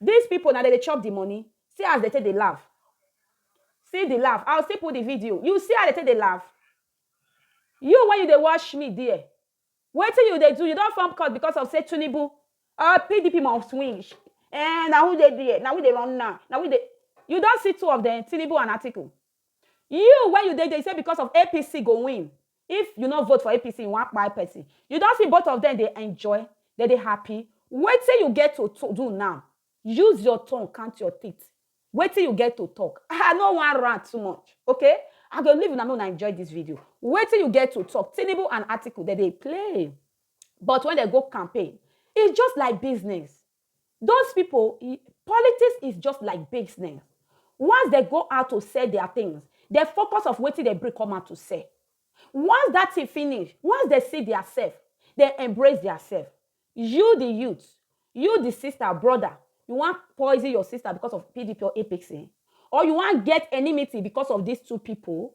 This people na dem dey chop the money see as dem take dey laugh see the laugh i will still put the video you see how dem take dey laugh you when you dey watch me there wetin you dey do you don form cult because of say Tinubu or PDP must win eh na who dey there na we dey run now na we dey you don see two of them Tinubu and Atiku you when you dey there you say because of APC go win If you no vote for APC you wan kpai person. You don see both of them dey enjoy, dem dey happy. Wetin you get to to do now? Use your tongue count your teeth. Wetin you get to talk? I no wan rant too much okay I go leave una make una enjoy this video. Wetin you get to talk? Tinubu and Atiku dem dey play but when dem go campaign e just like business. Those people, politics is just like business. Once they go out to sell their things, they focus of wetin they bring come out to sell. Once that thing finish, once they see their self, they embrace their self. You, the youth, you, the sister, brother, you want poison your sister because of PDP or APC, or you want get enmity because of these two people,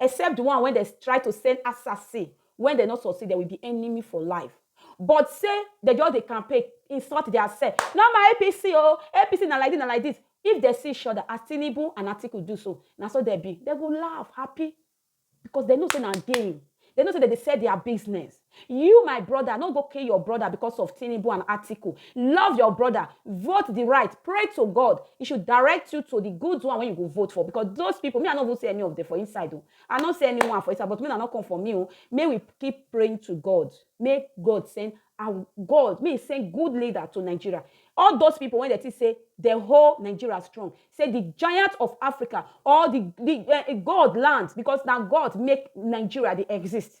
Except di one wen dem try to send assassin, wen dem no succeed, dem will be enemy for life. But say dem just dey campaign, insult dia sef, no more APC o, APC na like dis, na like dis. If dem see each oda as Tinubu and Atiku do so, na so dem be. Dem go laugh, happy, because dem know say na game. Dem know say dem dey sell dia business. You my brother no go kill your brother because of Tinubu and Atiku. Love your brother, vote the right, pray to God. He should direct you to the good one when you go vote for because those people, me I no even see any of them for inside. Oh. I no see anyone for inside, but me I no come for me. Oh. May we keep praying to God. May God send our God, may send good leader to Nigeria. All those people when they think say the whole Nigeria strong, say the giant of Africa or the, the uh, God land because now God make Nigeria they exist.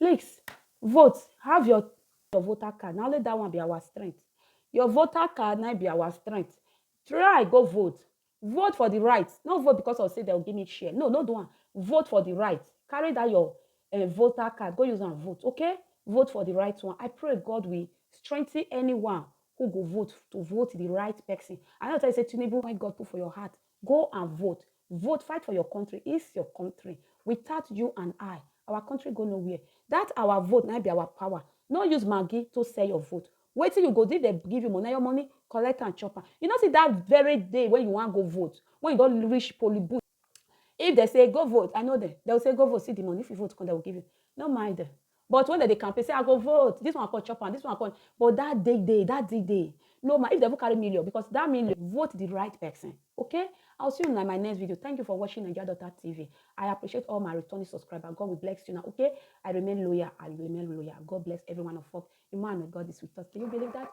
Please vote have your your voter card na only that one be our strength your voter card na be our strength try go vote vote for the right no vote because of say dem give me share no no do am vote for the right carry that your uh, voter card go use am vote okay vote for the right one i pray god will strengthen anyone who go vote to vote the right person i know tell you say tinubu when god put for your heart Go and vote, vote fight for your country is your country without you and I our country go no where that our vote na be our power no use maggi to sell your vote wetin you go do if dem give you money na your money collect and chop am you no see that very day when you wan go vote when you don reach polling booth if dem say go vote I know dem dem go say go vote see the money if you vote come dem go give you no mind dem. But when dem dey campaign say I go vote, this one come chop am, this one come, but that day day, that day day, no ma if dem even carry million because that million, vote the right person, okay? I will see una in my next video, thank you for watching Naija Daughter TV, I appreciate all my returning subscriber, God will bless you now, okay? I remain loyal, I remain loyal, God bless every one of us, Emmanuel, God is with us, do you believe that?